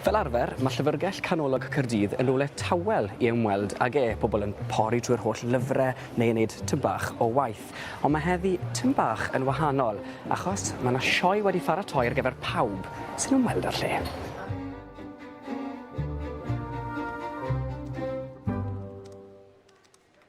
Fel arfer, mae Llyfrgell Canolog Caerdydd yn rywle tawel i ymweld ag e, pobl yn pori trwy'r holl lyfrau neu yn neud tym bach o waith. Ond mae heddi tym bach yn wahanol, achos mae yna sioe wedi pharatoi ar gyfer pawb sy'n ymweld â'r lle.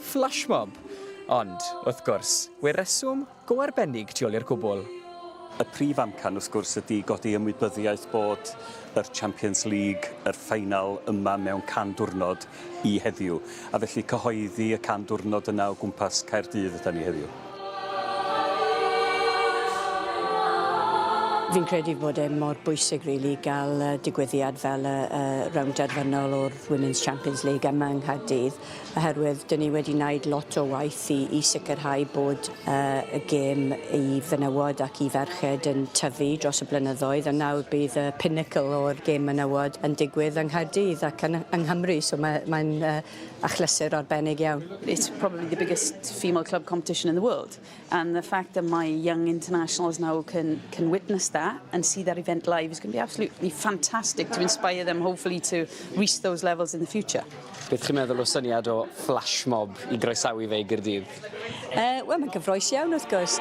Flashmob! Ond, wrth gwrs, we reswm go arbennig tu ol i'r cwbwl. Y prif amcan, wrth gwrs, ydi godi ymwybyddiaeth bod yr Champions League, yr ffaenal, yma mewn can dwrnod i heddiw. A felly cyhoeddi y can dwrnod yna o gwmpas Caerdydd ydan ni heddiw. Fi'n credu bod e mor bwysig rili ga'l yy digwyddiad fel y y rownd derfynol o'r Women's Champions League yma yng Nghaerdydd. oherwydd dyn ni wedi wneud lot o waith i, i sicrhau bod uh, y gêm i fenywod ac i ferched yn tyfu dros y blynyddoedd a nawr bydd y pinnacle o'r gêm menywod yn digwydd yng Nghaerdydd ac yn, yng Nghymru so mae'n mae, uh, achlysur arbennig iawn. It's probably the biggest female club competition in the world. And the fact that my young internationals now can, can witness that and see that event live is going to be absolutely fantastic to inspire them hopefully to reach those levels in the future. Beth chi'n meddwl o syniad o flash mob i groesawu fe i Gyrdydd? Uh, Wel, mae'n gyfroes iawn wrth gwrs.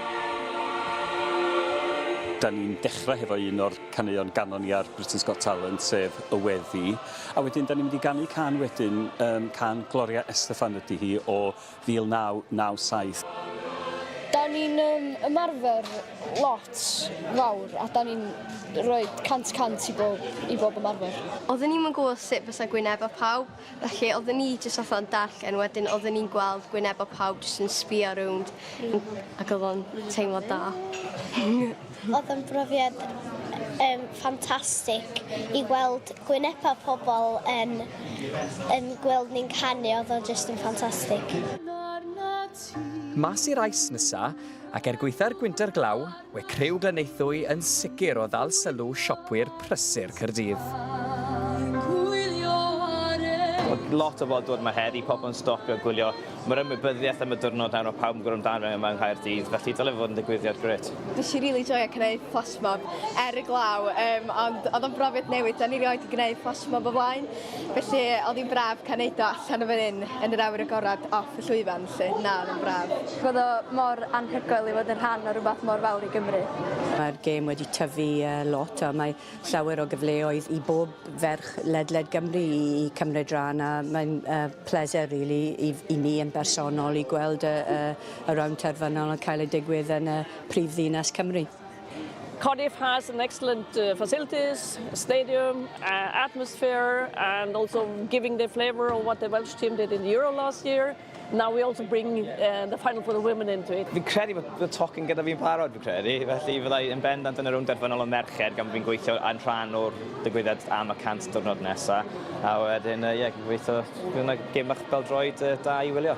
Da ni'n dechrau hefo un o'r caneuon ganon ni ar Britain's Got Talent, sef Y Weddi. A wedyn, da ni'n mynd i ganu can wedyn, um, can Gloria Estefan ydy hi, o 1997. Dan ni'n yym ymarfer lot fawr a dan ni'n rhoi cant y cant i bob i bob ymarfer. Oedden ni'm yn gwybod sut fysa gwynebau pawb, felly oedden ni jyst fatha yn darllen, wedyn oedden ni'n gweld gwynebau pawb jyst yn sbïo rownd ac oedd o'n teimlad da. Oedd yn brofiad yym ffantastig i weld gwynebau pobl yn yn gweld ni'n canu, oedd o jyst yn ffantastig. Mas i rais nesa, ac er gwaetha'r gwynter glaw, we criw Glyneuthwy yn sicr o ddal sylw siopwyr prysur Caerdydd. Mae lot o fodwr 'ma heddi, pobl yn stopio gwylio Mae'r ymwybyddiaeth am y diwrnod nawr, mae pawb yn gwrando amdano yma yng Nghaerdydd, felly dyle fod yn ddigwyddiad grêt. Nes i rili joio gneud fflasmob er y glaw, um, ond oedd o'n brofiad newydd, da ni rioed wedi gneud fflasmob o flaen, felly oedd hi'n braf cael neud o allan o fan hyn yn yr awyr agored off y llwyfan, lle na, oedd o'n braf. Roedd o mor anhygoel i fod yn rhan o rhywbeth mor fawr i Gymru. Mae'r gêm wedi tyfu lot a mae llawer o gyfleoedd i bob ferch ledled Gymru i cymryd rhan a mae'n uh, pleser really i, i mi yn bersonol i gweld y, y, y round terfynol yn cael ei digwydd yn y prif ddinas Cymru. Cardiff has an excellent uh, facilities, stadium, uh, atmosphere, and also giving the flavour of what the Welsh team did in the Euro last year. Now we also bring uh, the final for the women into it. Fi'n credu bod y tocyn gyda fi'n barod, fi'n credu. Felly fyddai yn bendant yn yr rownd derfynol o merched gan fi'n gweithio yn rhan o'r digwyddiad am y 100 diwrnod nesaf. A wedyn, ie, uh, yeah, gobeithio bydd yna gym bach beldroed uh, da i wylio.